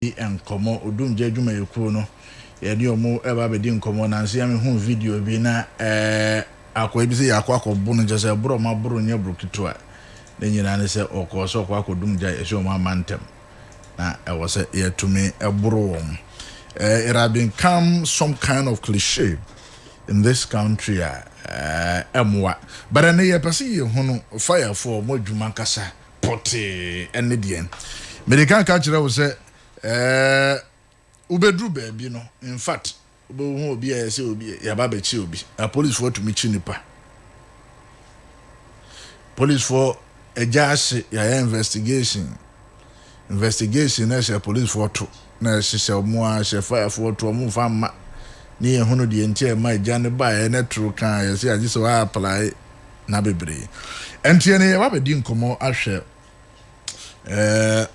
di nkɔmmɔ. Odumgya adwumayɛkuo no, yɛne ɔmo ɛba abɛdi nkɔmmɔ. Nanso yɛ mehuu video bi na akoa bi sɛ yɛakɔ akɔbo no, kyerɛ sɛ ɛboro ɔmo aboro nyɛ boro ketewa. Ne nyinaa ne sɛ ɔkɔɔ sɛ ɔkɔ akɔdum gya, yɛhyɛ ɔmo ama ntɛm. Na ɛwɔ sɛ yɛtumi boro wɔn. It has become some kind of cliche in this country a ɛmmoa. But ɛnɛ yɛpɛ sɛ yɛhunu fayafoɔ, ɔmo adwuma ankasa. pɔtee ne deɛn. Mede ka ka kyerɛ wo sɛ eh, wobɛduru baabi no, in fact, wobɛhu obi a yɛ sɛ obi yɛaba bɛkye obi. Apolisifoɔ atumi kyi nipa. Polisifoɔ agya ahye yɛayɛ investigation. Investigation na ɛhyɛ polisifoɔ to na ɛhyehyɛ ɔmo a hyɛ fayafoɔ to ɔmo fa mma ne yɛhunu deɛ nti a ɛma agya no baeɛ ne toro kaa yɛ sɛ agye sɛ wɔaaplae na bebree. Ɛnti ɛnɛ yɛba bɛdi nkɔmmɔ ahwɛ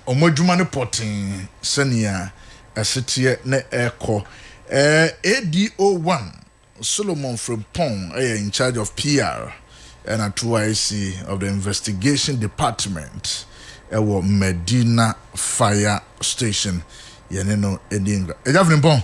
wɔn adwuma no pɔtee sɛnea ɛseteɛ ne ɛkɔ. ADO one, Solomon Frimpong yɛ in charge of PR ɛna TYC of the investigation department ɛwɔ Madina fire station. Yɛne no ɛdi nkɔmmɔ. Agya Frimpong.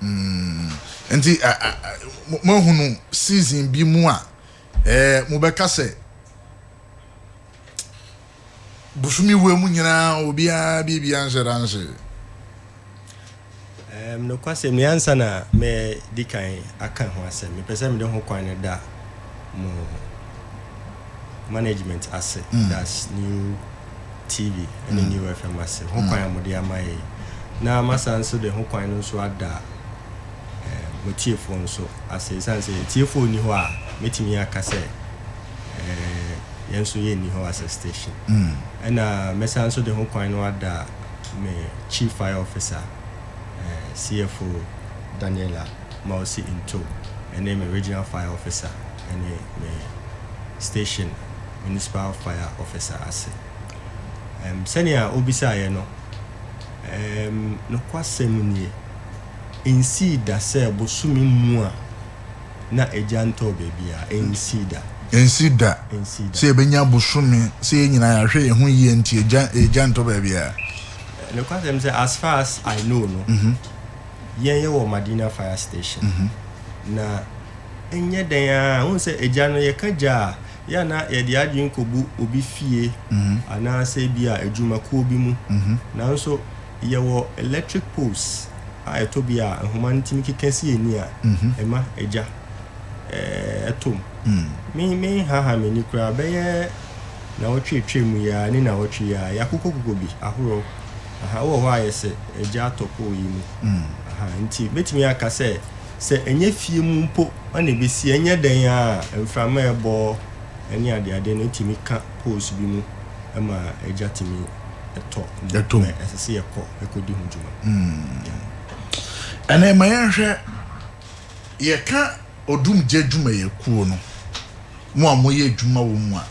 Mm, nti a, a, a, mo, moahunu season bi mu a, ɛɛ, mobɛka sɛ, Bosome wura mu nyinaa obiara biribia nhyɛ da nhyee. Um, nokwasɛm ni, ansa na mɛdi kan aka ho asɛm, mepɛ sɛ mede ho kwan no da mo management ase, mm. that's new TV ne mm. New FM ase ho kwan a mode ama yɛ na masa nso de ho kwan no nso ada eh, mo tiefoɔ nso ase ɛsiane sɛ tiefoɔ nni hɔ a mɛtumi aka sɛ eh, yɛn nso yɛnni hɔ as a station mm. ɛna mɛsa nso de ho kwan no ada me chief fire officer eh, CFO Daniela Mausi Into ɛne me regional fire officer ɛne me station Municipal Fire Officer ase. Um, sɛnea obisaeɛ no, um, nokwasɛm nie, ensii da sɛ bosome mu a na egya ntɔɔ baabiara, ensii da. Ensii da Ensii da. sɛ yɛbɛnya bosome, sɛ yɛn nyinaa yɛahwɛ yɛn ho yie nti egya, egya ntɔ baabiara. Nokwasɛm sɛ, as far as I know no, yɛn yɛwɔ Madina fire station mm -hmm. na ɛnyɛ dɛn a wohu sɛ agya no yɛka gya a yɛ na yɛde adwene kɔbu obi fie mm -hmm. anaasɛ bi a adwumakuo bi mu mm -hmm. nanso yɛwɔ electric poles a ɛtɔ bi a nhoma no tumi keka si ani a mhm. ɛma agya ɛtom mm. menhaha m'ani koraa bɛyɛ na wɔtwetwe mu yɛa ne na wɔtwe yɛa yɛakokɔkokɔ bi ahorow Aha, wowɔ hɔ a ayɛ sɛ agya atɔ pɔw yi mu. Aha, nti mɛtumi aka sɛ, sɛ ɛnyɛ fie mu mpo na ɛbɛsi, ɛnyɛ dɛn ara a mframa a ɛbɔ ne adeade no tumi ka poles bi mu ma agya tumi tɔ mu. Ɛtɔ mu. Ɛsɛ sɛ yɛkɔ kɔdi ho dwuma. Yeah. Ɛnɛ ma yɛnhwɛ, yɛka odumgya adwumayɛkuo no. mo a moyɛ adwuma wɔ mu a,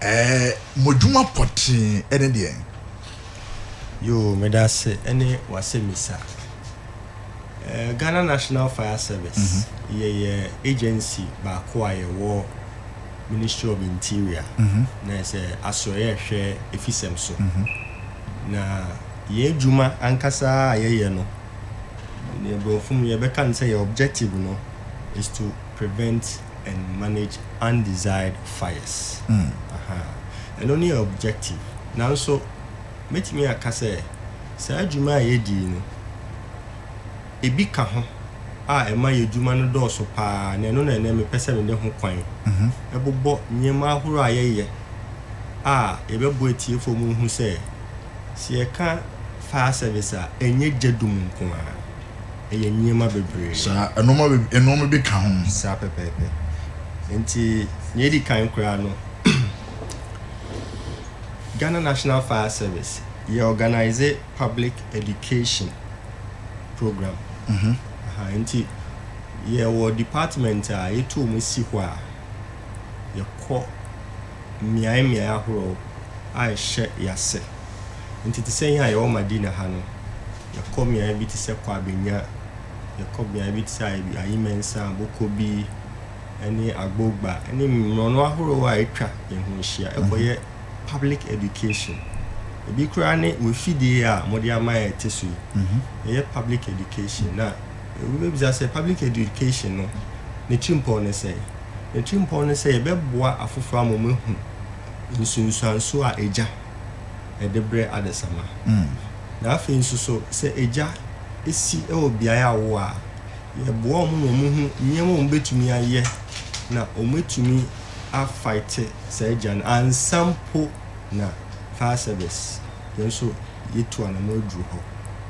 ɛɛ, mo adwuma pɔtee ne deɛn? Yoo, meda ase ne w'asɛmmisa. Ɛɛ, Ghana National Fire Service, yɛyɛ agency baako a yɛwɔ Ministry of Interior, na ayɛ sɛ asoɛeɛ a ɛhwɛ afisɛm so. Na yɛn adwuma ankasa a yɛyɛ no, deɛ Borɔfo mu yɛbɛka no sɛ yɛn objective no is to prevent. and manage undesired fires. Ahaa. Ɛno ne objective. Nanso, mɛtumi aka sɛ, saa dwuma a yɛdi yi no, ebi ka ho a ɛma yɛn dwuma no dɔɔso pa ara, na ɛno na ɛnnɛ mepɛ sɛ mede ho kwan bobɔ nneɛma ahorow a yɛyɛ a yɛbɛboa atiefoɔ ma wɔahu sɛ, sɛ yɛka fire service a, ɛnyɛ gya dum nko ara. ɛyɛ nneɛma bebree. Saa, nnoɔma be, nnoɔma bi ka ho. Saa pɛpɛɛpɛ. Nti, nea edi kan koraa no, Ghana National Fire Service, yɛ organise public education program. Aha, nti yɛwɔ department a yɛtu wɔn si hɔ a, yɛkɔ mmeae mmeae ahorow a ɛhyɛ yɛn ase. Nti te sɛ yɛn a yɛwɔ Madina ha no, Yɛkɔ mmeae bi te sɛ Kwabenya, yɛkɔ beae bi te sɛ Ayimansa, Bokobi, ne Agbogba, ne mmorɔno ahorow a atwa yɛn ho ahyia mhm. kɔyɛ public education. Ebi koraa ne wɔafidie a mode ama yɛ te so yi. Mhm. Ɛyɛ public education. Na wobɛbisa sɛ public education no, ne tirimpɔn ne sɛ? Ne tirimpɔn ne sɛ yɛbɛboa afoforɔ ama wɔahu nsunsuanso a agya ɛde brɛ adesamma. Na afei nso so, sɛ agya si wɔ beae a wɔwɔ a, yɛboa wɔn ma wɔhu nneɛma a wɔbɛtumi ayɛ na wɔatumi afaete saa agya no ansa mpo na fire service yɛn nso yɛtu anamɔ aduru hɔ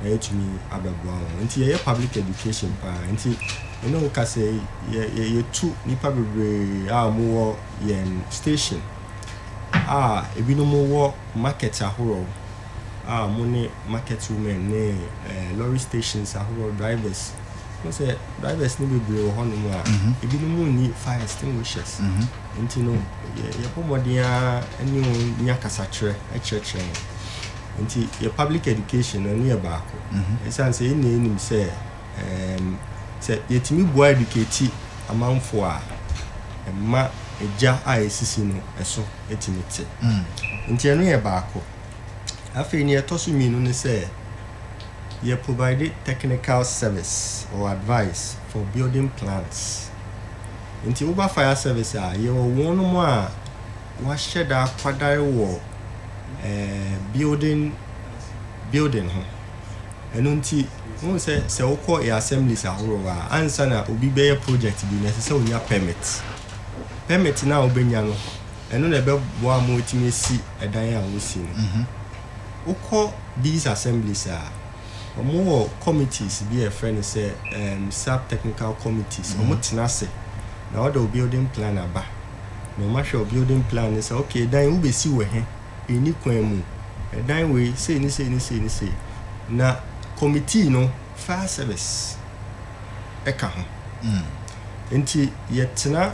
na yɛatumi abɛboa wɔn. Nti yɛyɛ public education paa. Nti me ne wo kasa yi, yɛtu nnipa bebree a wɔwɔ yɛn station. a ebinom wɔ market ahorow a wɔne market women ne eh, lorry stations ahorow drivers. Wɔn sɛ drivers no bebree wɔ hɔnom a mhm. ebinom nni fire extinguishers. Mhm. Nti no yɛbɔ mmɔden ara ne wɔn nya kasakyerɛ kyerɛkyerɛ wɔn. Nti yɛ public education no ne yɛ baako. Mhm. Ɛsiane sɛ yɛn nyinaa nim sɛ Ɛɛm, sɛ yɛtumi boa edukati amanfoɔ a, ɛma egya a esisi no so tumi te. Nti ɛno yɛ baako. Afei nea ɛtɔ so mmienu ne sɛ, yɛ provide technical service or advice for building plans. Nti woba fire service a, yɛwɔ wɔnom a wɔahyɛ da akwadare wɔ ɛɛm, building, building ho. Ɛno nti. Wohu sɛ, sɛ wokɔ yɛn assemblies ahorow a, ansa na obi bɛyɛ project bi no, ɛsɛ sɛ onya permit. Permit no a wobenya no, ɛno na ɛbɛboa ama wɔatumi asi dan a wɔresi no. Wokɔ these assemblies a, wɔwɔ committees bi a wɔfrɛ no sɛ sub-technical committees. Wɔtena ase, na wɔde wo building plan aba, na wɔahwɛ wo building plan no sɛ, okay, dan yi wobesi wɔ he? nni kwan mu, dan wei sei ne sei ne sei ne sei, na kɔmitii no fire service ka ho. Nti yɛtena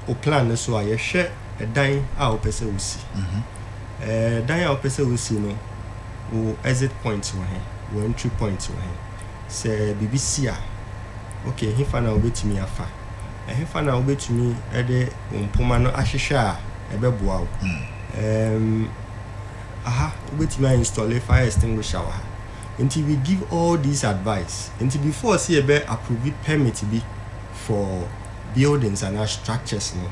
wo plan no so a, yɛhwɛ dan a wopɛ sɛ wosi. Dan a wopɛ sɛ wosi no, wo exit point wɔ he, wo entry point wɔ he, sɛ biribi si a, okay, hefa na wobɛtumi afa? Ɛhefa na wubetumi de wo mpoma no ahwehwɛ a ɛbɛboa wo? Ɛɛm, aha, wubetumi ainstɔle fire extinguisher wɔ ha. Enti we give all these advice. Enti before sɛ yɛbɛ approve permit bi for buildings anaa structures no,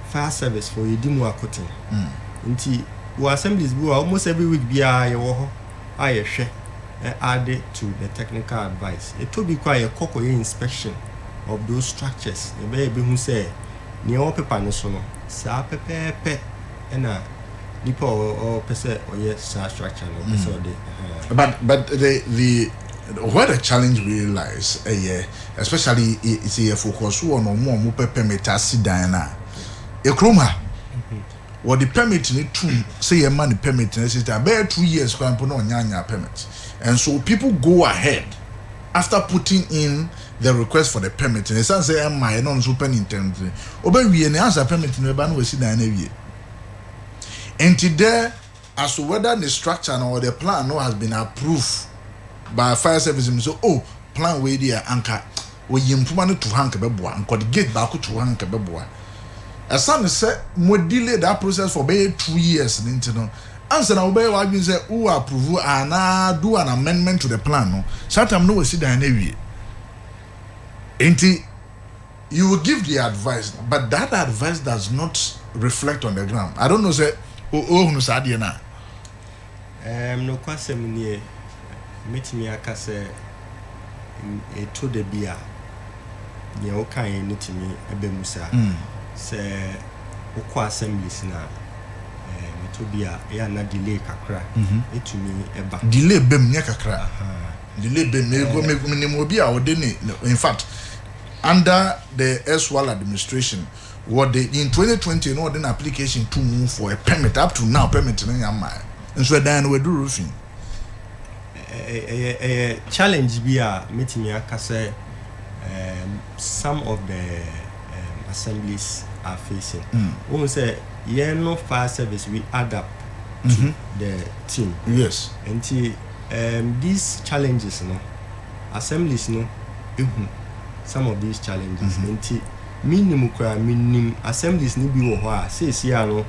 fire service fo yɛdi mu akoten. Enti wɔ assemblies bi wɔ hɔ a, almost every week biara yɛwɔ hɔ a yɛhwɛ ɛ add to the technical advice. Ɛtɔ bi koraa a yɛ kɔ kɔ yɛ inspection of those structures na ɛbɛyɛ yɛbɛhu sɛ nea ɛwɔ paper no so no saa pɛpɛɛpɛ ɛna nipa a ɔ ɔpɛ sɛ ɔyɛ saa structure no ɔpɛ sɛ ɔde ɛhaa. But but the the where the challenge really lies ɛyɛ especially i sɛ yɛ focus wɔ no ɔmo a ɔmo pɛ permit asi dan no a ekurom ha. wɔde permit no to mu sɛ yɛmma no permit na ɛsɛ sɛ bɛyɛ two years koraa mpo na ɔnnya annya permit and so people go ahead after putting in the request for the permit na ɛsiane sɛ ɛmmaeɛ na ɔno nso pɛ ne ntɛm nti ɔbɛwie na ansa permit no bɛba na wasi dan no awie nti dɛ as to whether ne structure no or the plan no has been approved by fire service mu sɛ oh plan wei deɛ anka wɔyi mpoma no to ha anka bɛboa anka ɔde gate baako to ha anka bɛboa ɛsane sɛ mo delay that process for bɛyɛ two years no nti no ansa na wobɛyɛ w'adwene sɛ wo approve anaa do an amendment to the plan no saa tam no wasi dan no awie nti You will give the advice but that advice does not reflect on the ground. I don't know sɛ wohunu saa adeɛ no a. Ɛɛm, nokwasɛm nie, mɛtumi aka sɛ ɛtɔ da bi a deɛ wokaeɛ no tumi ba mu saa. Sɛ wokɔ assemblies no a, ɛɛm, ɛtɔ bi a ɛyɛ a na delay kakra tumi ba. Delay ba mu, nyɛ kakra. Delay ba mu. Menim obi a ɔde ne, in fact, Under the erstwhile administration, wɔde, in twenty twenty na wɔde no application to mu for a permit, up to now permit no yɛmmaɛ, nso ɛdan no waduru fi. Ɛyɛ ɛyɛ challenge bi a mɛtumi aka sɛ um, some of the um, assemblies are facing. Mm. Wohu sɛ yɛn no fire service we add up to mm -hmm. the team. Yes. Nti um, these challenges no. Assemblies no hu some of these challenges nti mennim koraa. Menim Assemblies no bi wɔ hɔ a seesei no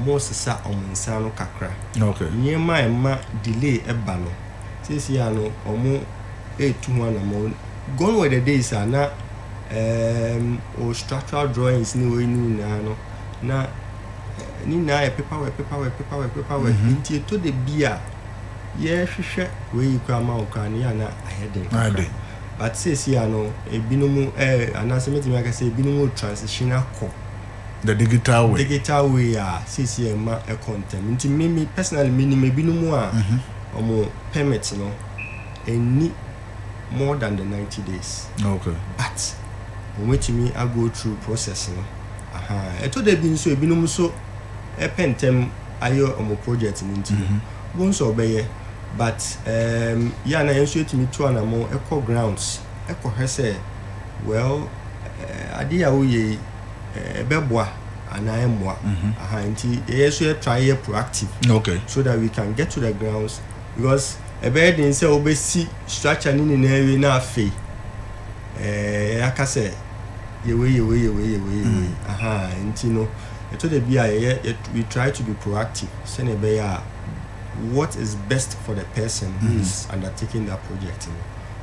wɔresesa wɔn nsa ano kakra. Nneɛma a ɛma delay ba no seesei no wɔretu ho anammɔn. Gone were the days a na um, o structural drawings ne wei ne nyinaa no na ne nyinaa yɛ paperwork paperwork paperwork paperwork nti ɛtɔ da bi a yɛhwehwɛ wei yi koraa ma wo koraa no yɛ ana ayɛ den kakra but seesie a no ebinom eh, anaasɛ mɛtumi aka sɛ ebinom o transition akɔ the digital way digital way a seesie ɛma ɛkɔ ntɛm nti me me personally menim ebinom a wɔn mhm. permit no ɛnni more than the 90 days okay. but wɔn atumi ago through process no ɛtɔ da bi nso ebinom nso ɛpɛ ntɛm ayɛ ɔmo project no nti no bohu sɛ ɔbɛyɛ but um, yɛ a na yɛn nso yɛtumi tu anamo ɛkɔ grounds ɛkɔhwɛ sɛ well uh, adeɛ a woyɛ yi ɛbɛboa anaa ɛmmoa aha nti yɛyɛ so yɛ try yɛ proactive okay. so that we can get to the grounds because ɛbɛyɛ den sɛ wobɛsi structure no nyinaa wie na afei ɛɛ aka sɛ yɛwei yɛwei yɛwei yɛwei yɛwei aha nti no Ɛtɔ da bi a yɛyɛ, we try to be proactive sɛnea ɛbɛyɛ a what is best for the person who is mm-hmm. undertaking that project no.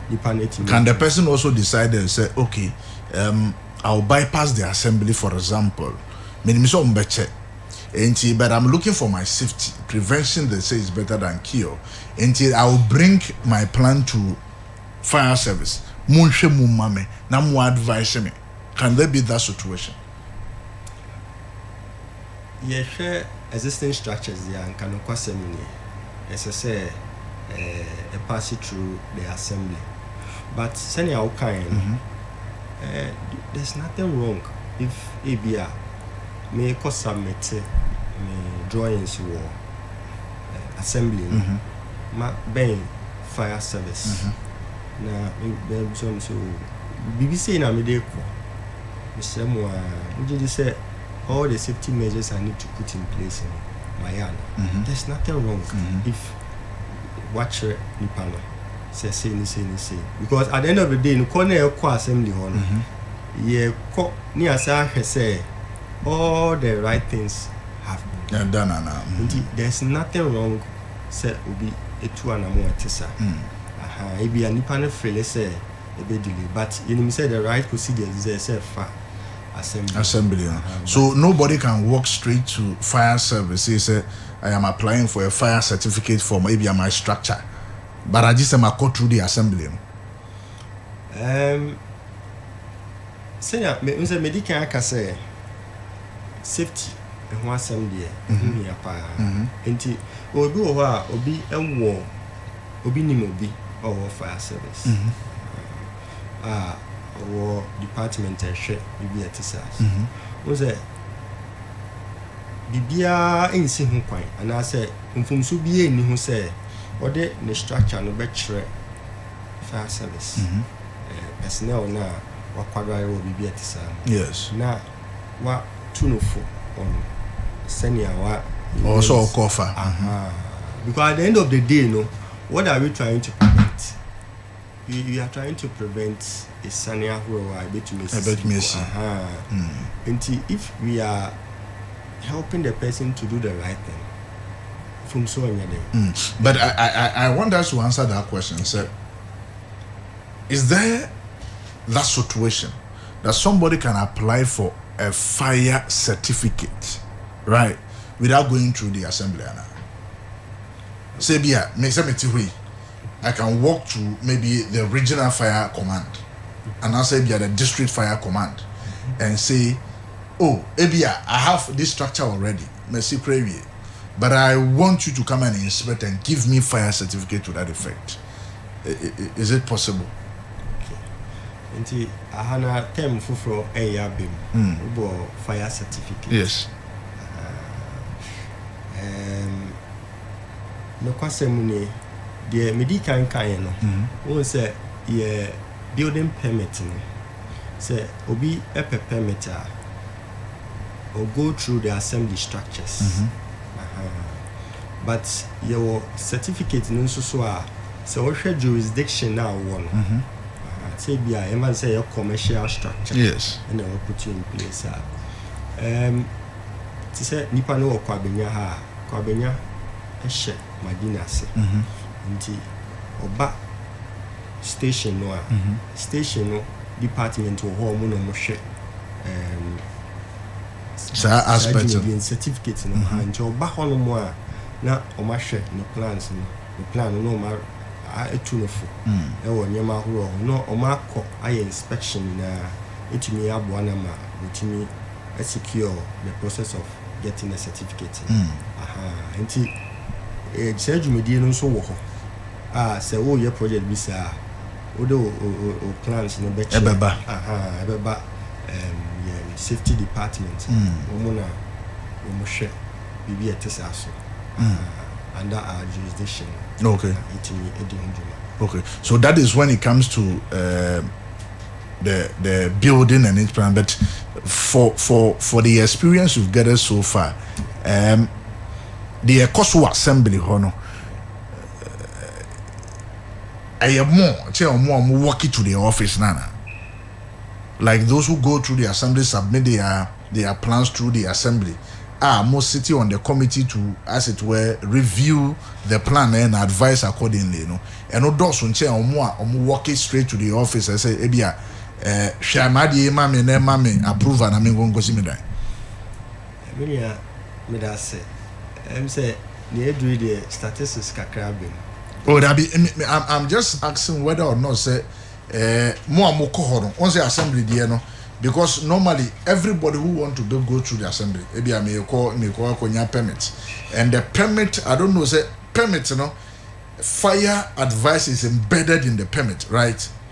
Nipa no etimi. Can the person also decide and say, okay, um, I'll bypass the assembly, for example. Menim sɛ ɔmo bɛkyɛ. Enti, but I'm looking for my safety. Prevention, they say, is better than cure. Enti, I will bring my plan to fire service. Monhwɛ mu ma me, na mo advise me. Can there be that situation? Yɛhwɛ existing structures deɛ a, nka nokwasɛm nie. Ɛsɛ sɛ eh, ɛpaase through the assembly. But sɛnea wokaeɛ no, eh, there's nothing wrong if ebi a mekɔ submit me drawings wɔ eh, assembly no ma bɛn fire service na me- bɛbisa me sɛ o biribi sei na mede kɔ Mesrɛ mo aa, mogye di sɛ all the safety measures I need to put in place no, mayɛ ana? There's nothing wrong if wɔakyerɛ nipa no sɛ sei ne sei ne sei. Because at the end of the day no, kɔ na ɛkɔ assembly hɔ no, yɛkɔ na yɛasan ahwɛ sɛ all the right things have been done. Ɛda no anaa? Mhm. Nti there's nothing wrong sɛ obi tu anamɔ a ɛte saa. Aha, ebia nipa no feele sɛ. ɛbɛ delay but yɛnim sɛ the right procedure is there sɛ fa assembly assembly no so nobody can walk straight to fire service say sɛ I am applying for a fire certificate form ebi am I structure but agye sɛ makɔ through the assembly no. Um, sɛnea me nsɛ medi kan aka sɛ safety ɛho asɛm deɛ ɛho hia paa nti obi wɔ hɔ a obi wɔ Obi nim obi a ɔwɔ fire service a ɔwɔ department a ɛhwɛ biribi a ɛte saa ase. Wohu sɛ biribiara nsi ho kwan anaasɛ mfomso biara nni ho sɛ ɔde ne structure no bɛkyerɛ fire service personnel no a wakwadare wɔ biribi a ɛte saa mu. Yes. Na watu no fo on sɛnea wa. Ɔwɔ sɛ ɔkɔ ɔfa. Ahaa because at the end of the day no what are we trying to prevent we we are trying to prevent esiane ahorow a ebetumi esisi Ɛbɛtumi asi. ahaa nti if we are helping the person to do the right thing mfomso nyɛ dɛ. But I I I want us to answer that question sɛ. Is there that situation that somebody can apply for a fire certificate right without going through the assembly ana sɛ bi a me sɛ mete hɔ yi I can walk to maybe the regional fire command anaasɛ bi a the district fire command and say oh ebi a I have this structure already masi kora wie but I want you to come and inspect and give me fire certificate to that effect is it possible. Okay. Nti aha na term foforɔ ɛyɛ abɛ mu. Mm. Wobɔ fire certificate. Yes. Um, nokwasɛm mu nie deɛ medi kan kaeɛ no mm. wohu sɛ yɛ building permit no sɛ obi pɛ permit a or go through the assembly structures ahaa but yɛwɔ certificate no nso so a sɛ wohwɛ jurisdiction a wowɔ no ahaa sɛ bi a yɛma no sɛ yɛ commercial structure yes ɛna ɛwɔ put in place a um, te sɛ nipa no wɔ kwabenya ha a kwabenya hyɛ madina ase nti ɔba station no a, station no department wɔ hɔ a wɔn na wɔhwɛ um, saa aspect no certificate no mm-hmm. nti ɔba hɔ nom a na wɔahwɛ ne plans no ne plan no na wɔn atu no fo mm. ɛwɔ nneɛma ahorow ho na wɔn akɔ ayɛ inspection nyinaa etumi aboa na ma wɔtumi secure the process of getting a certificate mm. aha nti eh, saa dwumadie no nso wɔ hɔ A, sɛ woreyɛ project bi saa a, wode wo wo wo plans no bɛkyerɛ. Ɛbɛba. Aha, ɛbɛba um, yɛn safety department. Mm. Wɔn na wɔn hwɛ biribi a ɛte saa so. Mm. Aha, under our jurisdiction. Okay. Na yɛtumi di ho dwuma. Okay, so that is when it comes to. Uh, the the building and its plan. But for for for the experience you've gathered so far, um, the Ekoso Assembly, hono, ɛyɛ more kyɛ wɔn a wɔn walk to their office na na like those who go through the assembly submit their their plans through the assembly a wɔn city on the committee to as it were review the plan na na advice accordingly no ɛno dɔɔso nkyɛn wɔn a wɔn walk straight to their office ɛsɛ ebi a ɛɛ hwɛ anaadeɛ yi ma me na ɛma me approval na me nkonkosi me dan. Menua, meda ase. Ɛm sɛ Nea adu yi deɛ statistics kakra abem. Oh dabi me me I'm I'm just asking whether or not sɛ eh, mo a mo kɔ hɔ no, wɔn sɛ assembly deɛ no because normally everybody who want to be go through the assembly ebi a me kɔ me kɔ akɔ nya permit and the permit I don't know sɛ permit no fire advice is embedded in the permit right.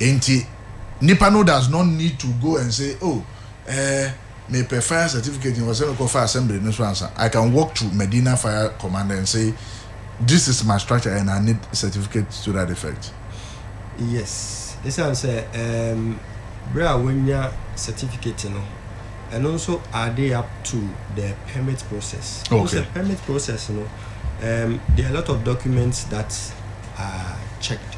Enti nipa no does not need to go and say oh eh mepɛ fire certificate ɛwɔ sɛ mekɔ fa assembly no so ansa I can walk to Medina fire command and say this is my structure and I need certificate to that effect. Yes, ɛsiane sɛ ɛɛm berɛ a wanya certificate no ɛno nso added up to the permit process. Wohu Okay. sɛ permit process no um, there are a lot of documents that are checked.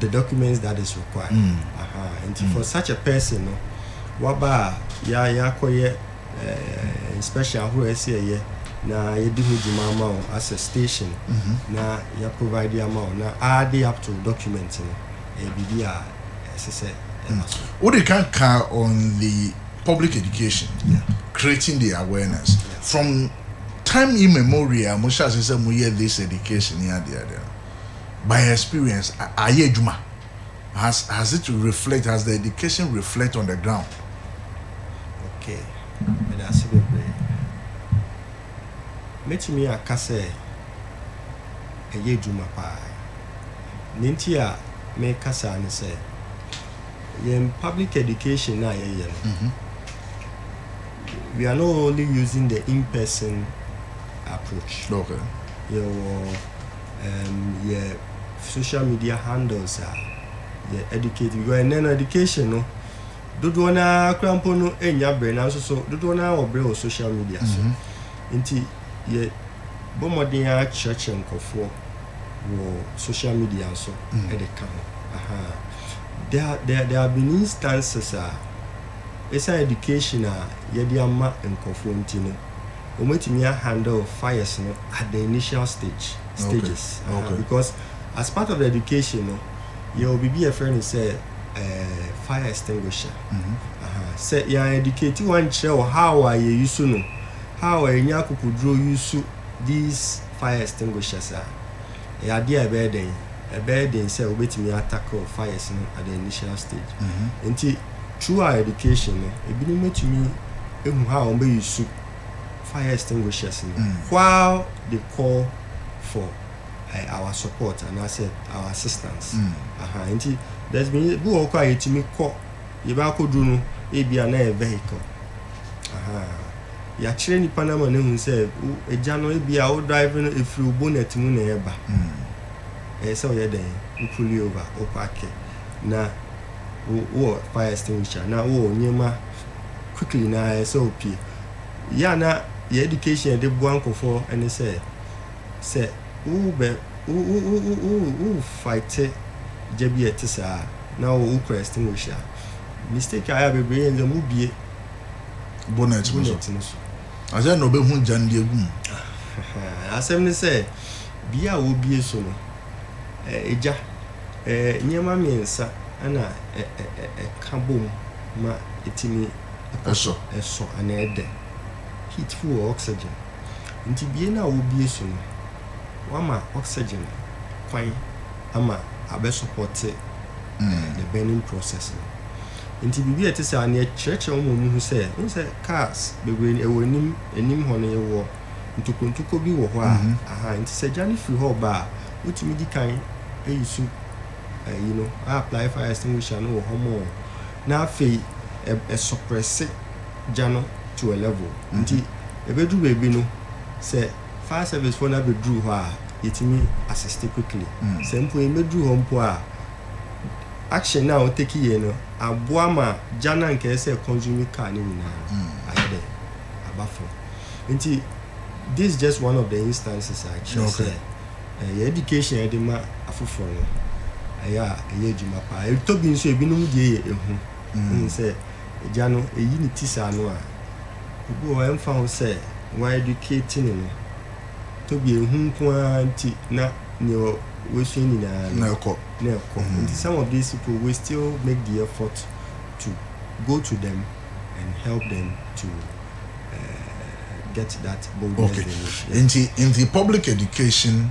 the documents that is required mm. aha nti mm. for such a person no waba a ya yakɔyɛ eh, inspection ahorow ɛsɛ ɛyɛ na yɛdi ho dwuma ama wo as a station mm -hmm. na ya provide ama wo na aade up to document no ɛyɛ biribi a ɛsɛ sɛ ɛma mm. so wode kan ka on the public education yeah. creating the awareness yeah. from time immemorial mo hyɛ ase sɛ moyɛ this education ne adeadeɛ by experience ayɛ adwuma? Has has it reflect has the education reflect on the ground? Okay, meda ase bebree. Mɛtumi aka sɛ ɛyɛ adwuma paa. Nea nti a meka saa ne sɛ, yɛn public education no a yɛyɛ no, mm-hmm. we are not only using the in-person approach. Okay. Yɛwɔ um, yɛ social media handles a yɛ educate because ɛnɛ no education no dodoɔ no ara kora mpo no ɛnya berɛ nanso so dodoɔ no ara wɔ berɛ wɔ social media so mm -hmm. nti yɛ bɔ mmɔden ara kyerɛkyerɛ nkɔfoɔ wɔ social media so mm -hmm. ɛde ka ho aha there, there, there have been instances a ɛsan education a yɛde ama nkɔfoɔ nti no wɔatumi a handle fires no at the initial stage stages because as part of the education no yɛwɔ biribi a yɛfrɛ no sɛ eh, fire extinguisher sɛ yɛn educate wɔn kyerɛ wɔ how a yɛ use no how a yɛnya akokoduro use these fire extinguishers a Ɛyɛ adeɛ a ɛbɛyɛ dɛn? Ɛbɛyɛ den sɛ wobɛtumi a tackle fires no at the initial stage. Mm -hmm. Nti through our education no, ebinom bɛtumi ehu ha a wɔn bɛyi su fire extinguishers no mm. while they call for uh, our support and I said our assistance. Mm. Uh -huh. Nti there's been bi wɔ hɔ kɔ a yɛtumi kɔ Yɛ bɛ akɔduru no ebia na ɛyɛ vehicle ahaa yakyerɛ nipa no ama no ahu sɛ wo agya no ebia wo drive no ɛfiri wo bonnet mu na ɛba ɛyɛ sɛ woyɛ dɛn wo pull over wo parke na wo wɔ fire extinguisher na wo wɔ nneɛma quickly na ɛyɛ sɛ opie yɛ na yɛ education yɛde boa nkɔfoɔ ɛne sɛ Sɛ worebɛ wo wo wo wo wo worefighte gya bi a ɛte saa a, na wo wokura extinguisher a, mistake a ayɛ a bebree yɛ no sɛ mubue Bonnet no so. bonnet no so. Na sɛn na obehu gya no de agu mu? Ahaa, asɛm ne sɛ, bea a wobue so no, ɛ, egya, ɛ, nneɛma mmiɛnsa na ɛ, ɛ, ɛ, ɛka bom ma etumi ɛkɔ so Ɛsɔ. ɛsɔ anaa ɛdɛ. Heat fu wɔ oxygen. Enti bie no a wobie so no, woama oxygen kwan ama abɛ sɔpɔte the burning process no. Enti biribi a ɛte saa no, yɛkyerɛkyerɛ wɔn ma wɔhu sɛ, wohu sɛ cars bebree no, ɛwɔ anim, anim hɔ no yɛwɔ ntokontokuo bi wɔ hɔ a, aha, nti sɛ gya no firi hɔ reba a, wotumi di kan ayi su ayi no, a apply fire extinguisher no wɔ hɔ mɔɔ, na afei ɛsɔprɛse. gya no to a level nti ɛbɛduru baabi no sɛ fire service foɔ no abɛduru hɔ a yɛtumi assist quickly sɛ mpo yɛmmɛduru hɔ mpo a action no a wo take yei no aboa ma gya no anka ɛyɛ sɛ consume car no nyinaa no ayɛ dɛ aba fam nti this is just one of the instances a ɛkyerɛ sɛ ɛyɛ education a yɛde ma afoforɔ no ɛyɛ a ɛyɛ adwuma paa ɛtɔ bi nso ebinom deɛ yɛ ehu wohu sɛ agya no eyi ne ti saa no a, ebi wɔ hɔ a ɛmfa ho sɛ wɔaeducate no no, tobia ehu nko ara nti na nea wasua nyinaa no, na ɛkɔ. Nti some of these people, we still make the effort to go to them and help them to uh, get that boldness okay. they need. Yeah. Nti, in the public education,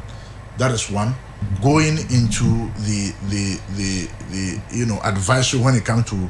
that is one. Going into the, the, the, the, you know, advisory when it comes to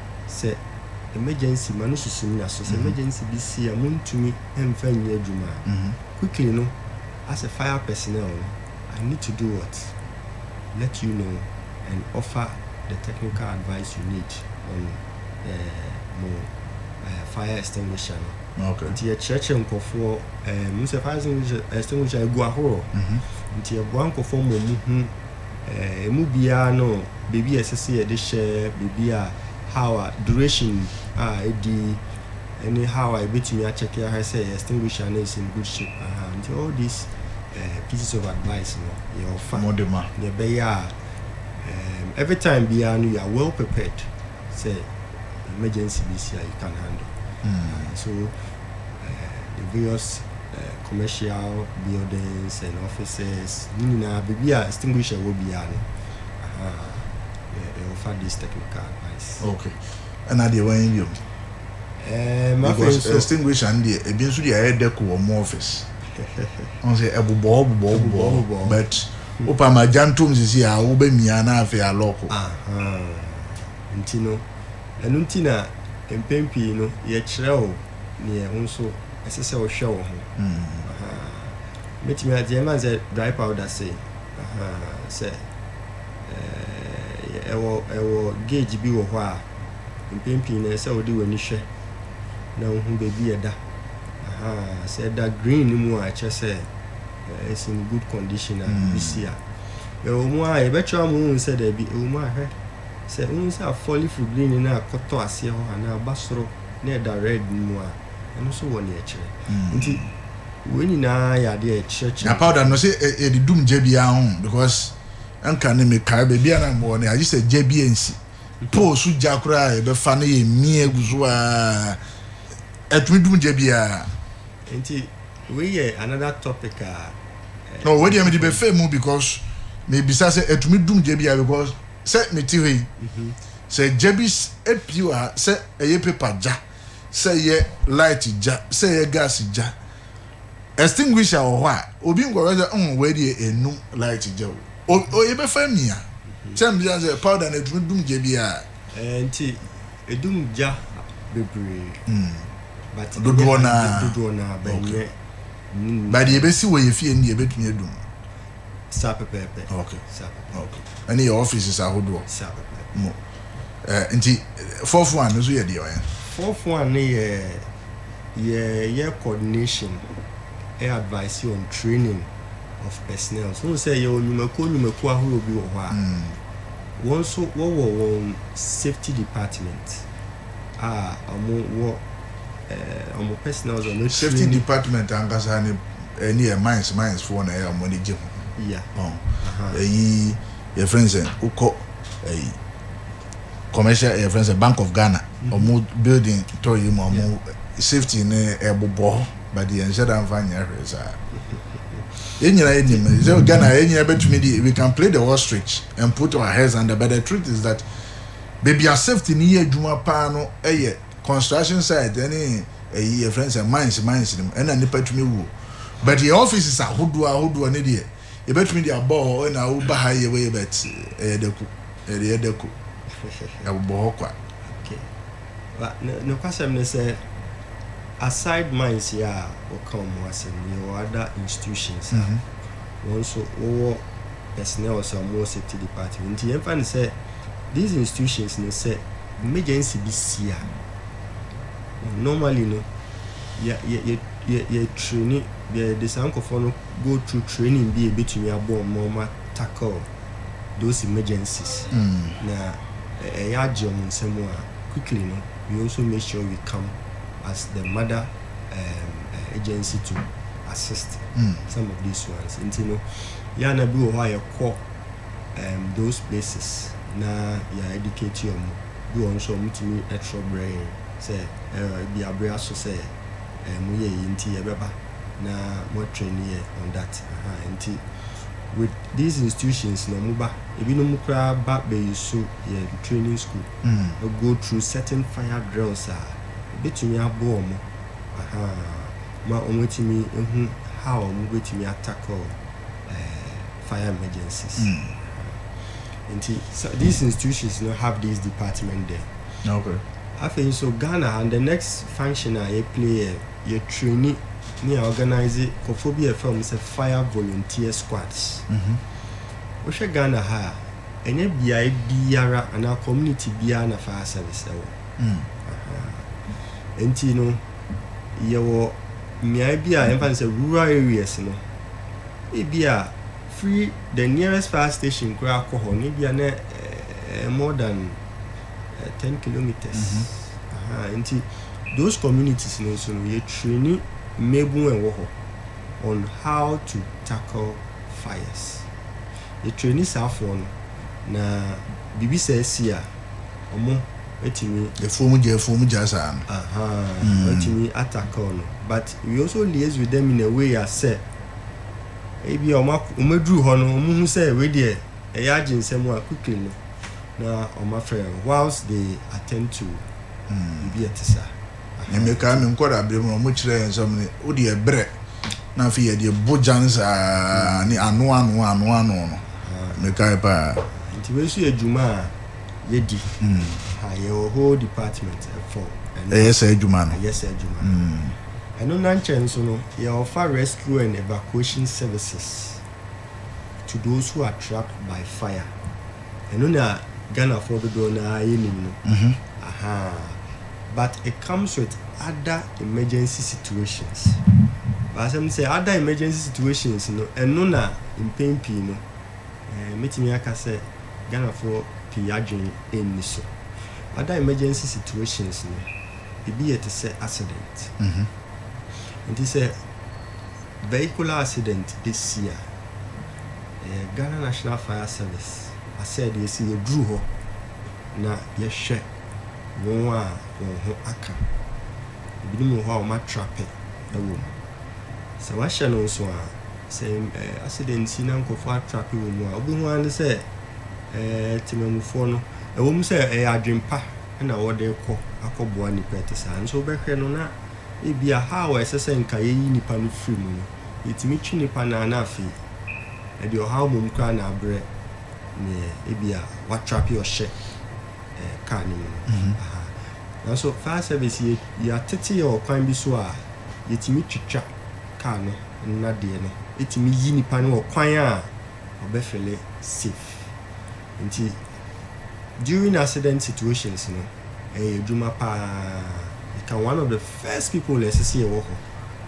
sɛ emergency ma no susu nna so sɛ emergency bi si a montumi mfa nnyɛ adwuma a quickly no as a fire personnel no I need to do what let you know and offer the technical advice you need on eh, mo eh, fire extinguisher no Okay. nti yɛkyerɛkyerɛ nkurɔfoɔ eh, mu sɛ fire extinguisher- extinguisher egu ahorow nti yɛboa nkurɔfoɔ ma ɔmo hu Emu biara no baabi a ɛsɛ sɛ yɛde hyɛ biribi a how a duration a edi ne how a yɛbɛtumi akyɛke ahwɛ sɛ extinguish a na ɛsi in good shape aha nti all these uh, pieces of advice no yɛɔfa yɛbɛyɛ a um, every time biara no you are well prepared sɛ emergency bi si a you can handle uh, so uh, the various uh, commercial buildings and offices ne nyinaa biribi a extinguisher wɔ biara no ɛwɔfa uh, this technical advice okay ɛna deɛ wɔn yɛ mu eh, because extinguisher no deɛ ebi nso deɛ ɛyɛ dɛko wɔ mo office ɔn sɛ ɛbobɔ bobɔ bobɔ but Wo pam agyantom sisi a wo bɛ mia na afei a lɔko. Ahaa nti no ɛno nti na mpɛn pii no yɛ kyerɛ wo neɛ wo nso ɛsɛ sɛ wo hwɛ wo ho ahaa mɛtumi a deɛ ɛma sɛ dry powder sei ahaa sɛ ɛɛ ɛwɔ ɛwɔ gauge bi wɔ hɔ a mpɛn pii no ɛsɛ wo de w'ani hwɛ na wo hu baabi ɛda ahaa sɛ ɛda green no mu a ɛkyɛ sɛ It's in good condition a mm. bisi a ɛwɔ mu a yɛbɛkyerɛ ama wohu sɛ daabi ɛwɔ mu ahwɛ sɛ wohu sɛ afɔlifo green no akɔtɔ aseɛ hɔ anaa aba soro na ɛda red no mu a ɛno nso wɔ ne ɛkyerɛ mm. nti wei nyinaa yɛ adeɛ ɛkyerɛkyerɛ na powder no sɛ ɛde dum gya biara ho because nka ne mekae baabi a na mmɔɔ no agye sɛ gya bi ansi pole so gya koraa a yɛbɛfa no yɛ mmie agu so a ɛtumi dum gya biara Nti wei yɛ another topic a. No wei deɛ mede bɛfɛ mu because mebisa sɛ ɛtumi dum gya bi a because sɛ mete hɔ yi mhm. sɛ gya bi apue wɔ ha sɛ ɛyɛ paper gya sɛ ɛyɛ light gya sɛ ɛyɛ gas gya extinguisher wɔ hɔ a obi nkɔhwɛ sɛ ɔn wei deɛ ɛnum light gya o o yɛbɛfa mia mhm. sɛ mbisa sɛ powder no ɛtumi dum gya bi a. Eh, nti Edum gya bebree. Mm. But dodoɔ naa. Dodoɔ naa bɛ nyɛ. Ba deɛ ebesi wɔ yɛ fie no deɛ ebetumi edum. Saa pɛpɛɛpɛ. Okay. Saa pɛpɛɛpɛ. Okay. Ɛne yɛ offices ahodoɔ. Saa pɛpɛɛpɛ. Mo. Eh, nti fourth one no so yɛ deɛ ɔyɛ. Fourth one no yɛ yɛ yɛ coordination, ɛ advice on training of personnel. So sɛ yɛ wɔ nnwumakuo nnwumakuo ahorow bi wɔ hɔ a. Mm. Wɔn nso wɔwɔ wɔn safety department a ɔmo wɔ eh, ɔmo personal dze ɔmo etraini. Safety department ankasa ne ɛne yɛ mines mines foɔ na ɛyɛ ɔmo ani gye ho. Yeah. Ɔn. Ahaa. Ɛyi yɛ friend sɛ wokɔ ɛyi commercial yɛ friend sɛ Bank of Ghana ɔmo building tɔ yi mu ɔmo Yeah. safety ne ɛbobɔ hɔ but yɛn nhyɛ da nfa nyɛ hwee saa. Yɛn nyinaa yɛ nim. Sɛ Ghana yɛn nyinaa bɛtumi di we can play the ostrich and put our heads under but the truth is that baabi a safety ni yɛ adwuma paa no yɛ construction site ɛne ɛyi yɛ friends and mines mines nim ɛna nipa tumi wuo but yɛ offices ahodoɔ ahodoɔ ne deɛ yɛbɛtumi de abɔ hɔ ɛna awo ba ha yɛ wei but ɛyɛ dako ɛyɛ dako ɛbobɔ hɔ kwa. Ba no nokwasɛm ne sɛ aside mines yi a wɔka wɔn ho asɛm yi yɛwɔ ada institutions a mhm. wɔn nso wɔwɔ personnel sɛ wɔn wɔ safety department nti yɛn fa ne sɛ these institutions ne sɛ emergency bi si a normally no yɛ yɛ yɛ yɛ yɛ training yɛ de saa nkɔfoɔ no go through training bi a ebetumi aboɔ wɔn ma wɔn. tackle those emergencies na ɛyɛ agye wɔn nsa mu a, quickly no, we also make sure we come as the mother um, uh, agency to assist mm. some of these ones. Nti no, yɛ ana bi wɔ hɔ a yɛkɔ um, those places na yɛ educate wɔn bi wɔ nso wɔn tumi ɛtrɔ brɛ yɛn sɛ ɛbi eh, abere aso sɛ ɛmu eh, yɛ yi nti yɛbɛba na mo train yɛ on that nti with these institutions na ɔmo ba ebinom koraa ba bɛyusu yɛn training school go through certain fire drills a ebetumi aboa ɔmo ahaa ma ɔmo atumi ahu how a ɔmo betumi a tackle fire emergencies nti these institutions no have these department there afei nso Ghana ha the next function a yɛ play yɛ. yɛ traini ne yɛ ɔganaize kɔfoɔ bi a yɛfrɛ wɔn sɛ fire volunteer squads. Mhm. Wohwɛ Ghana ha a, ɛnyɛ beaeɛ biara anaa community biara na fire service ɛwɔ. Mm. Aha. Enti no, yɛwɔ mmeaeɛ bi a yɛmfa no sɛ rural areas no, ebi a firi the nearest fire station koraa kɔ hɔ no, ebi a na ɛɛ more than eh, ten kilometers mm -hmm. aha nti those communities no nso no yɛtrani mmabun a ɛwɔ hɔ on how to tackle fires yɛtrani saafoɔ no na biribi sɛ asi a ɔmo atumi efuom gya efuom gya saa no aha mm. atumi atackle no but we also liaise with them in a way as sɛ ebi a ɔmo aduru hɔ no ɔmo hu sɛ wei deɛ Ɛyɛ agye nsɛm a quickly no na ɔma frɛ whilst they attend to biribi a ɛte saa. Me mekae me nkwadaa berɛ mu no wɔn kyerɛ yɛn sɛ wɔn wode ɛbrɛ na afei yɛde ɛbo gyan saa ne ano ano ano ano no mekae paa. Nti wei nso yɛ dwuma a yɛdi. Ha yɛwɔ whole department for ɛno. Ɛyɛ saa adwuma no. Ɛyɛ saa adwuma no. Ɛno nankyɛ nso no yɛ ɔfa rescue and evacuation services. to those who are trapped by fire ɛno na ghanafoɔ dodoɔ no ara yɛnim no mhm. aha but it comes with other emergency situations baasɛm sɛ other emergency situations no ɛno na mpɛn pii no eh, mɛtumi aka sɛ ghanafoɔ pii adwene ɛnni so other emergency situations no ebi yɛ te sɛ accident mhm. nti sɛ Vehicular accident besi a, ɛyɛ Ghana National Fire Service asɛdeɛ sɛ yɛduru hɔ na yɛhwɛ wɔn a wɔn ho aka. Ebinom wɔ hɔ a wɔatrape wɔ mu. Sɛ wɔahyɛ no nso a, sɛ accident si na nkurɔfoɔ atrape wɔ mu a, wobɛhu ara ne sɛ temamufoɔ no, ɛwɔ mu sɛ ɛyɛ adwempa na wɔde rekɔ akɔboa nnipa ɛte saa nso wobɛhwɛ no na Ebia haw a ɛsɛ sɛ anka yeyi nnipa no firi mu no, yetumi twe nnipa no ara na afei ɛde ɔhaw mmom koraa na abrɛ nea ebia watrape ɔhyɛ kar no mu no. Nanso fire service yɛ, yɛatete yɛn ɔkwan bi so a yetumi twitwa kar no nnadeɛ no tumi yi nnipa no wɔ kwan a ɔbɛfele safe. Nti during accident situations no ɛyɛ adwuma paa yɛka one of the first people na ɛsɛ sɛ yɛwɔ hɔ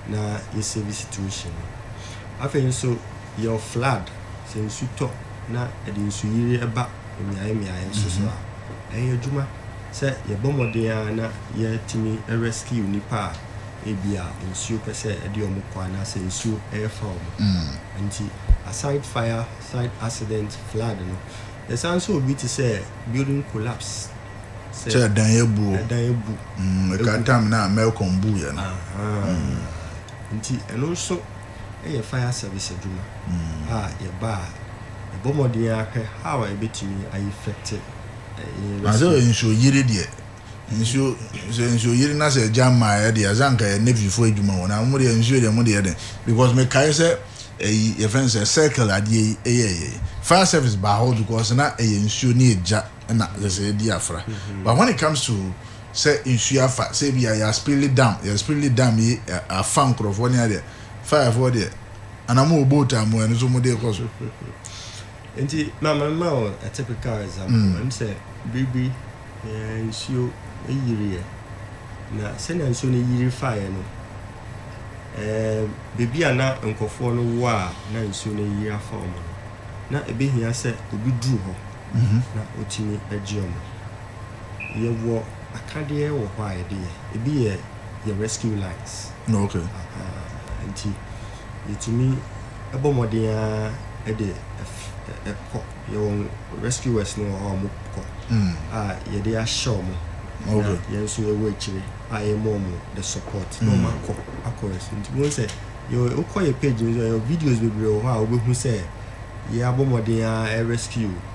na yɛ save situation no. Afei nso yɛwɔ flood sɛ nsu tɔ na ɛde nsuyiri ɛba mmeaeɛ mmeaeɛ nso so a ɛyɛ adwuma sɛ yɛbɔ mmɔden ara na yɛtumi rescue nnipa a ebi a nsuo pɛ sɛ ɛde wɔn kɔ anaasɛ nsuo ɛrefa wɔn. Nti aside fire Site accident, flood no. Ɛsan nso obi te sɛ building collapse. Sɛ. Sɛ ɛdan abu o. Ɛdan abu. Mm, ɛka time no a Melcom buu yɛ no. Ahaa. Mm. Nti ɛno nso yɛ fire service adwuma mm. a yɛba a yɛbɔ mmɔden ahwɛ how a yɛbɛtumi ayefɛte. Asɛ nsuo yiri deɛ. Nsuo sɛ nsuo yiri na sɛ gya mmaeɛ deɛ sɛ anka yɛ navyfoɔ adwuma wɔ na mo deɛ nsuo deɛ mo deɛ dɛn because mekae sɛ ɛyi yɛfrɛ no sɛ circle adeɛ yi ɛyɛ ɛyɛ fire service baa hɔ because na ɛyɛ nsuo ne ɛgya na sɛ sɛ ɛdi afra mm-hmm. but when it comes to sɛ nsuo afa sɛ bi a yɛ aspili dam yɛ aspili dam yi afa nkurɔfoɔ ne adeɛ firefoɔ deɛ anamo wɔ boat a mo ɛno so mo deɛ kɔ so Enti ma menma wo a typical example, ɛne sɛ bere bi nsuo yiriiɛ, na sɛnea nsuo no yiri faeɛ no, baabi a na nkurɔfoɔ no wɔ a na nsuo no ayiri afa wɔn no, na ɛbɛhia sɛ obi duru hɔ na ɔtumi gye wɔn. Yɛwɔ akadeɛ wɔ hɔ a yɛde yɛ, ebi yɛ yɛn rescue lines, nti. yɛtumi bɔ mmɔden ara de kɔ. Yɛwɔ rescuers no wɔ hɔ a wɔkɔ mm. a yɛde ahyɛ wɔn na yɛn nso yɛwɔ akyire a yɛma wɔn the support na wɔn mm. akɔ akɔ rescue nti wɔn sɛ wokɔ yɛ page no so yɛ videos bebree wɔ hɔ a wobɛhu sɛ yɛabɔ mmɔden ara rescue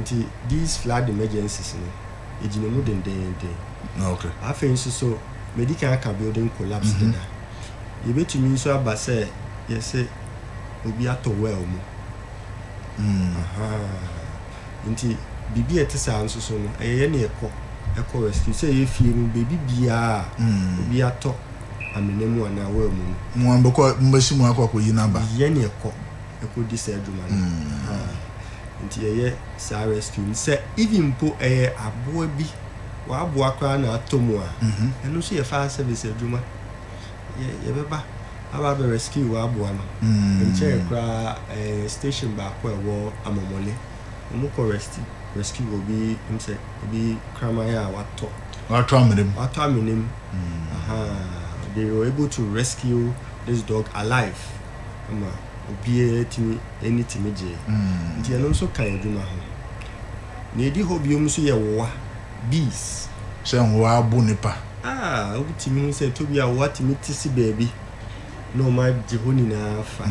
Nti these flood emergencies no egyina mu dendeenden. Afei nso so medi kan aka building collapse deda. Yebetumi nso aba sɛ yɛse obi atɔ well mu. Ahaa. Nti biribi a ɛte saa nso so no ɛyɛ yɛn na yɛkɔ ɛkɔ rescue. Sɛ ɛyɛ fie mu baabi biara a obi atɔ amena mu anaa well mu no. Mo ara mobɛkɔ mobɛsi mu akɔ akɔyi no aba. Yɛn na yɛkɔ. ɛkɔ di saa adwuma no mm. nti yɛyɛ saa rescue no sɛ even mpo ɛyɛ aboa bi wɔaboa koraa na atɔ mu a mhm. ɛno nso yɛ fire service adwuma yɛbɛba aba abɛ rescue wɔaboa no mm. nkyɛn koraa ɛyɛ station baako a ɛwɔ amɔmɔle wɔkɔ rescue rescue obi m sɛ obi kraman a watɔ watɔ amenem watɔ amenem mm. they were able to rescue this dog alive ma obiara tumi ani tumi gyee. Nti ɛno nso ka adwuma ho. Nea edi hɔ bio nso yɛ wowa, bees. Sɛ nwowa abo nipa. A, wotumi hu sɛ tobi a wowa tumi te si baabi na wɔn agye hɔ nyinaa fa.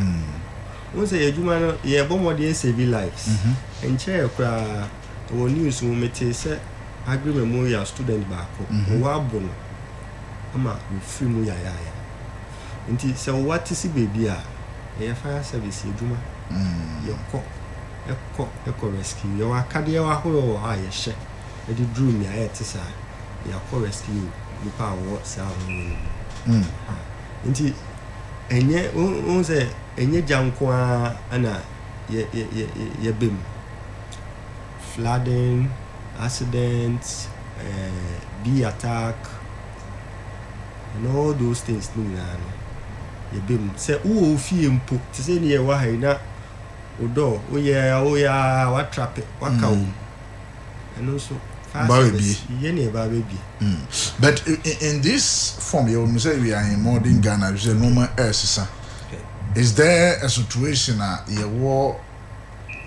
Wohu sɛ yɛn adwuma no, yɛrebɔ mmɔden asɛvi lives. Nkyɛrɛ koraa, wɔ news mu metee sɛ Aggrey Memorial student baako, wowa abo no ma wafiri mu yayaaya. Nti sɛ wo wa te si baabi a, yɛyɛ fire service adwuma. Yɛkɔ, ɛkɔ, ɛkɔ rescue. Yɛwɔ akadeɛ ahoroɔ wɔ hɔ a yɛhyɛ de duru mmeaeɛ a ɛte saa. Yɛakɔ rescue nnipa a wɔwɔ saa ahodoɔ no mu. Ha. Nti ɛnyɛ, wohu sɛ ɛnyɛ gya nko ara na yɛ, yɛ, yɛ, yɛ, yɛbɛ mu. Flooding, accidents, eh, bee attack, and all those things ne nyinaa no yɛbɛ mu sɛ wowɔ wo fie mpo te sɛ ne yɛwɔ ha yi na wo dɔ woyɛ woyɛ a watrape waka wo mu ɛno nso yɛ ne ɛba bɛbie mm. but in, in this form yɛwɔ mu sɛ we are in modern Ghana sɛ nneɛma ɛresesa is there a situation a yɛwɔ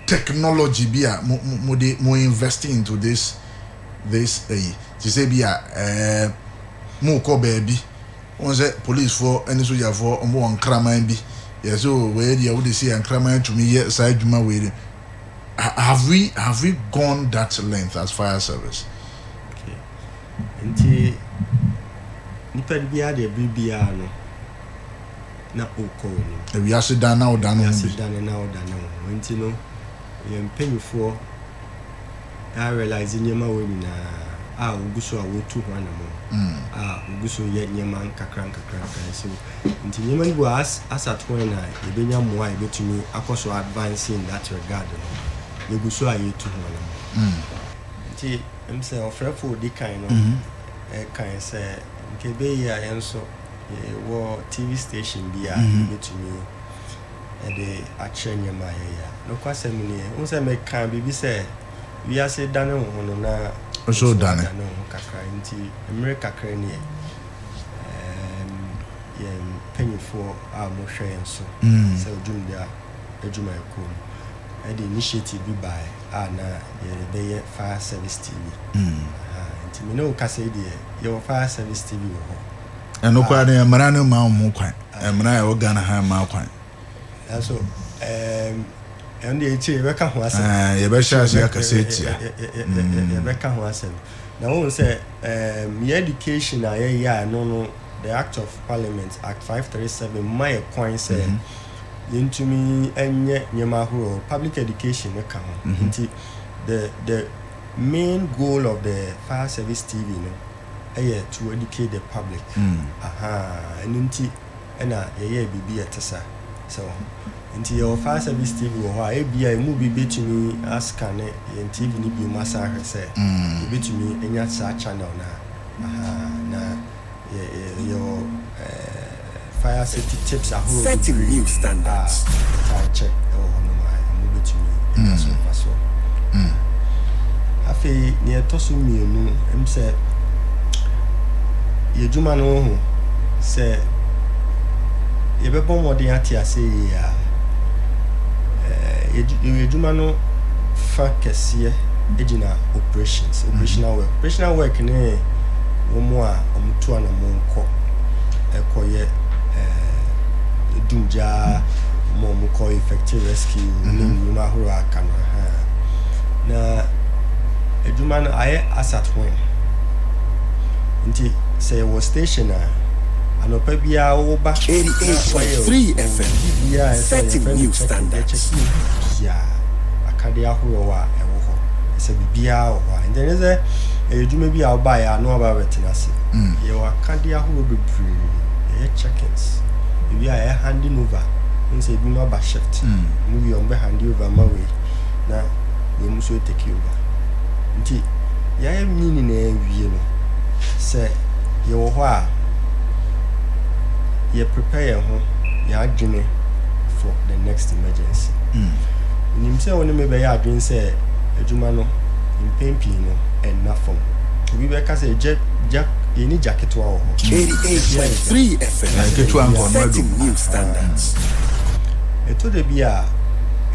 technology bi a mo mo mo de mo invest into this this ɛyi te sɛ bi a ɛɛ mo kɔ baabi wɔn sɛ policefoɔ ɛne sogyafoɔ wɔn wɔ nkraman bi yɛ sɛ o wɔyɛ deɛ wɔde si yɛ nkraman tumi yɛ saa adwuma wei de have we have we gone that length as fire service. Okay. Nti nipa biara deɛ biribiara no. na ɔkɔ anim. Ewiase dan na ɔda ne ho bi. Ewiase dan na ɔda ne ho. Nti no, yɛn mpanimfoɔ a realize nneɛma wɔ nyinaa a wɔgu so a wɔtu ho anamɔ a wɔgu so yɛ nneɛma nkakra nkakra nkakra so. Nti nneɛma no bi wɔ as as at when a yɛbɛnya mmoa a yɛbɛtumi akɔ so advance in that regard no, yɛgu so a yɛtu ho anamɔ. Nti ɛm sɛ ɔfrɛfoɔ a ɔdi kan no kan sɛ nka ɛbɛyɛ yie a yɛn nso. Yɛwɔ TV station bi a yebetumi de akyerɛ nneɛma a yɛyɛ a. Nokwasɛm ni, wohu sɛ mekaa biribi sɛ wiase dane wo ho no, na nso dane wo ho kakra. Enti mmere kakra ni ɛ, yɛn mpanimfoɔ a wɔhwɛ yɛn so sɛ Odwumdi Adwumayɛkuo no de initiative bi baeɛ a na yɛrebɛyɛ Fire Service TV. Enti me ne wo kasa yi deɛ, yɛwɔ Fire Service TV wɔ hɔ. ɛno koraa no mmara no ma wɔn kwan mmara a ɛwɔ ghana ha ma kwan nanso ɛno deɛ ɛkyire yɛbɛka ho asɛm yɛbɛhyɛ ase akasa atia yɛbɛka ho asɛm na wohu sɛ yɛ education a yɛyɛ a ɛno no the act of parliament act 537 ma yɛ kwan sɛ mm -hmm. yɛntumi nyɛ nneɛma ahorow public education no ka ho mm-hmm. nti the the main goal of the fire service tv no yɛ to educate the public ahaa ɛno nti na yɛyɛɛ biribi a ɛte sa sɛ wɔ ho nti yɛwɔ fire service TV wɔ hɔ a ebia emu bi bɛtumi askane yɛn TV no biom asan ahwɛ sɛ yɛbɛtumi anya saa channel no a ahaa na yɛ yɛwɔ ɛɛ. Fire safety tips ahorow bebree a wɔtaa kyɛ wɔ hɔnom a mubetumi anya so mfaso. Afei nea ɛtɔ so mmienu, ɛm sɛ yɛ adwuma no ho, sɛ yɛbɛbɔ mmɔden ate ase yie a, yɛn adwuma no fa kɛseɛ gyina operations, operational work. Operational work ne wɔn a wɔtu anammɔn kɔ ɛkɔyɛ ɛɛ edum gyaa ma wɔn kɔ effective rescue ne mhm. nnwuma ahorow a aka no ha na adwuma no ayɛ asat wɔn nti sɛ yɛwɔ station a anɔpa biara woba na wɔyɛ biribiara a ɛsɛ yɛfrɛ no kyɛkɛ yɛkyɛkɛ biara akadeɛ ahorow a ɛwɔ hɔ sɛ biribiara wɔ hɔ a ɛnyɛ sɛ ɛyɛ adwuma bi a wobaeɛ a na waba bɛtena ase Yɛwɔ akadeɛ ahoroɔ bebree. Yɛyɛ check-ins. Ewie a yɛ handing over. Wohu sɛ ebinom aba shift. Wɔn wie a wɔbɛ hande over ama wei na wei mo nso atake over. Nti yɛayɛ ne nyinaa awie no, sɛ yɛwɔ hɔ a, yɛ prepare yɛn ho, yɛn adwene for the next emergency. Menim sɛ wo ne me bɛyɛ adwene sɛ adwuma no mpɛn pii no ɛnna fam. Obi bɛka sɛ gya gya yɛnni gya ketewa wɔ hɔ. Ketewa yɛ gya. Na nketewa nka ɔno adu mu. Ɛtɔ da bi a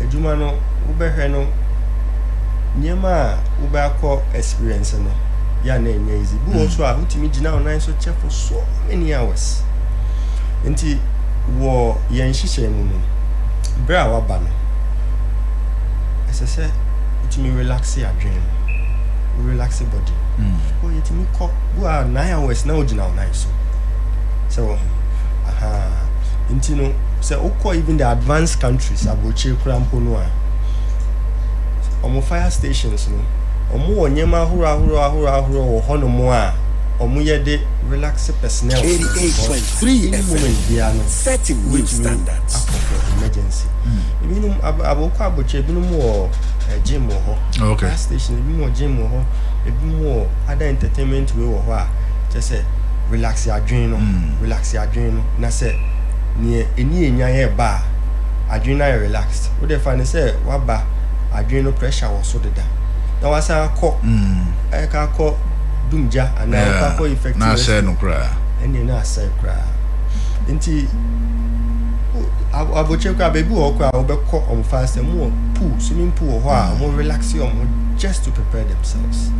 adwuma no wobɛhwɛ no nneɛma a wobɛakɔ experience no yɛ a na ɛnyɛ easy. Bi wɔ hɔ so a wotumi gyina wo nan so kyɛ for so many hours. Nti wɔ yɛn nhyehyɛe mu no berɛ a waba no ɛsɛ sɛ wotumi relaxe adwene no. wo relaxe body oh yɛtumi kɔ gu a nine hours na wogyina wo nan so sɛ wɔ aha nti no sɛ wokɔ even the advanced countries aburokyire kora mpo no a wɔn fire stations no wɔn wɔ nneɛma ahorow ahorow ahorow ahorow wɔ hɔ nom a wɔn yɛ de relax personnel no because any moment biara no wobɛtumi akɔ for emergency ebinom ab abokɔ abɔkyɛ ebinom wɔ eh, gym wɔ hɔ Oh, okay. Gas station, ebi wɔ gym wɔ hɔ, ebi wɔ other entertainment wei wɔ hɔ a kyɛ sɛ relax adwene no, mm. relax adwene no na sɛ neɛ ɛni ɛnya yɛ ba a adwene no ayɛ relaxed wode fa ne sɛ waba adwene no pressure wɔ so deda na wasan akɔ ɛka mm. akɔ dumgya anaa wokɔ akɔ effect na asɛe no koraa ɛneɛ na asɛe koraa nti abokyɛ koraa baabi wɔ hɔ koraa wobɛkɔ ɔmfa asɛm wɔ pool swimming pool wɔ hɔ a wɔn hmm. relax wɔn ho just to prepare themselves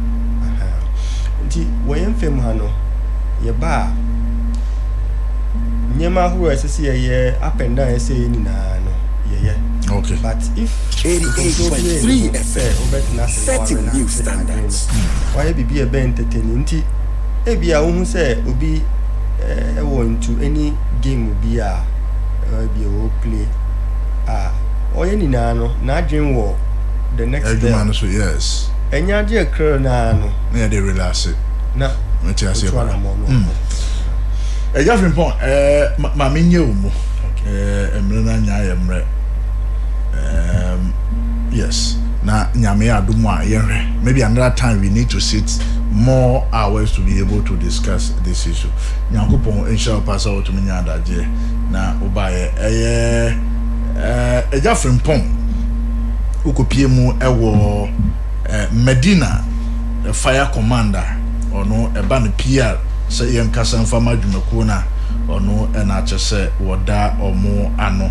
nti wɔ yɛn fam ha no yɛba a nneɛma ahorow a ɛsɛ sɛ yɛyɛ up and down ɛsɛ yɛ nyinaa no yɛyɛ okay but if nkurɔfoɔ bi sɛ wobɛtena ase na wɔrelax adwene no wɔayɛ biribi a ɛbɛn ntetene nti ebi a wohu sɛ obi ɛwɔ eh, ntu ɛne game bi a ɛbi eh, ɛwɔ play a. Ɔyɛ nyinaa no n'adwen wɔ the next level. Adwuma no so yes. Ɛnyɛ agye ɛkra no ara no. Na yɛde relaxe. Na otu anamɔ no ɔkɔ. Agya Frimpong ɛɛ ma me nyɛ wo mu. Ɛɛ mmerɛ no anya ayɛ mmerɛ. Ɛɛm yes na nyame adom a yɛnhwɛ maybe another time we need to sit more hours to be able to discuss this issue. Nyankopɔn nhyira wo paa sɛ wotumi nya adagyeɛ na wobaeɛ ɛyɛ. Ɛɛ, Agya Frimpong, wokɔpue mu wɔ Medina Fire Command a, ɔno ɛba no PR sɛ yɛnkasa mfa ma adwumakuo no a, ɔno na akyɛ sɛ wɔda wɔn ano.